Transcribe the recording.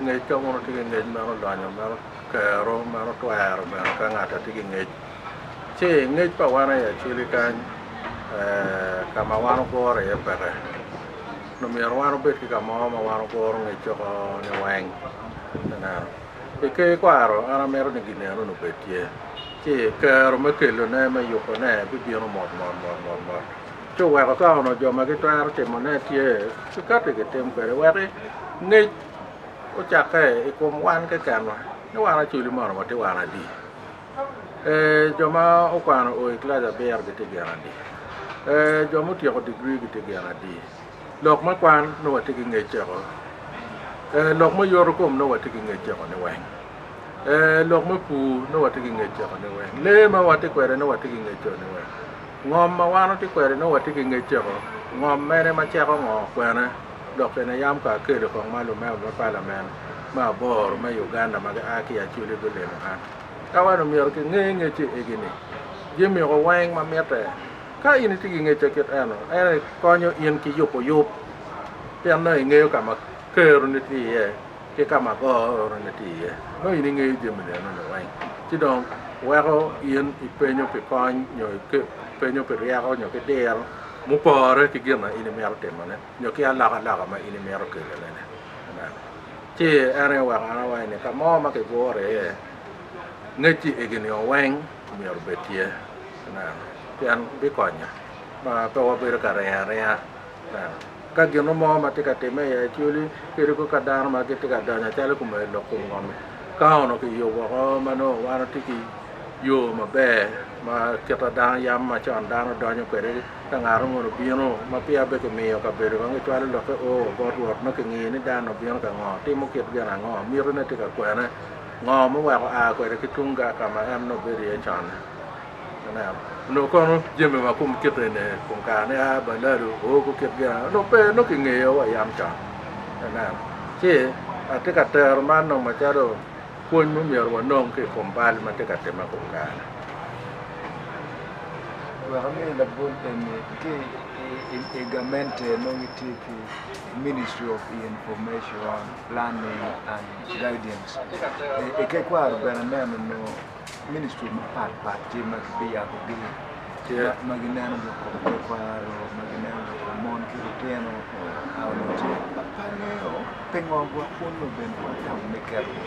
Ngec ka wun wutye ki ngec meno donyo, meno kero, meno twero bene ka ngat atye ki ngec. Ci ngec pa wan aye acwili kany ka ma wan wuguro iye peke. Nongo myero wan wubed ki ka mo ma wan wuguro ngec oko ni weng. Ineno? I ker ikwaro an amito ni gin eno ni obed tye. Ci kero me kelone, me yubone bibino mot mot mot mot mot. Ci oweko ka onongo jo ma gitwero timone tye, kikati kitim kwede wek ngec. Ocakke i kom wan kekenwa ni wan acoli mono watye wan adi? Ee, jo ma okwano o i kilaci abiro gitye gin adi? Ee, jo ma otyeko digri gitye gin adi? Lok me kwan nongo watye ki ngec ceko? Ee, lok me yoto kom nongo watye ki ngec ceko niweng? Ee, lok me pur nongo watye ki ngec ceko niweng? Lee ma watye kwede nongo watye ki ngec ceko niweng? Ngom ma wan watye kwede nongo watye ki ngec ceko? Ngom mene ma ceko ngo kwene? Dok bene yam ka akelo kong ma lumeo me palamen me aboro me Uganda ma gia ki i Acholi gulimo an, ka wan omyero kinge ngecce egi ni, Jimiko weng ma mitte. Ka in itye ki ngecce kit eno, en aye konyo in ki yubo yub pien nongo ingeyo ka ma Keroni tye iye. ki ka ma goo oroto niti iye, nongo in ingeyo jami lienoni weng. Ci dong weko in ipenyo pi kony nyo ipenyo pi ryeko nyo ki diro mupore ki gin ma in imito timone nyo ki alokaloka ma in imito kelone-ni. Amen. Ci en aye oweko an awaci ni ka mo ma kiguro iye, ngec ci igi nio weng myero obed tye. Amen. Pien bikonyo ma pe wabedo ka ringo aringa. Ka gin mo ma tye ka timme i Acholi kadi kong ka dano ma gitye ka donyo acalo i kom aye lok kom ngom-mi, ka onongo kiyo woko ma nongo wan watye ki yo maber ma kit ma dano yam ma con dano donyo kwede ka ngat moni obino ma peya bene kimiyo kabedo kong kicwalo lokke o bot Rwot ma kingiyo ni dan-ni obino ka ngo, timo kit gin ango, mitine tye ka kwene, ngo muweko aa kwede ki tung gang ka ma en nongo bedo iye con-ni. Onongo kono jami ma kom kit eni i kom kare-ni a, balado, ohogo kit gin ena onongo pe, nongo kingeyo wa yam can. Ineno? Ci atye ka tero man dong macalo pwony ma myero wanong ki i kom bal ma tye ka timme i kom kare-ni. Wek ami labol eni, ki i gamente nongo gitye ki Ministry of Information, Planning and Guidance. Itekwaro bene neno nongo. Ministry mapat pat tye ma gibiyabo gi ma gineno lok kom tekwaro ma gineno lok kom mon ki litino onongo ce pe angeyo pingo gwok un nongo bene watamo me keto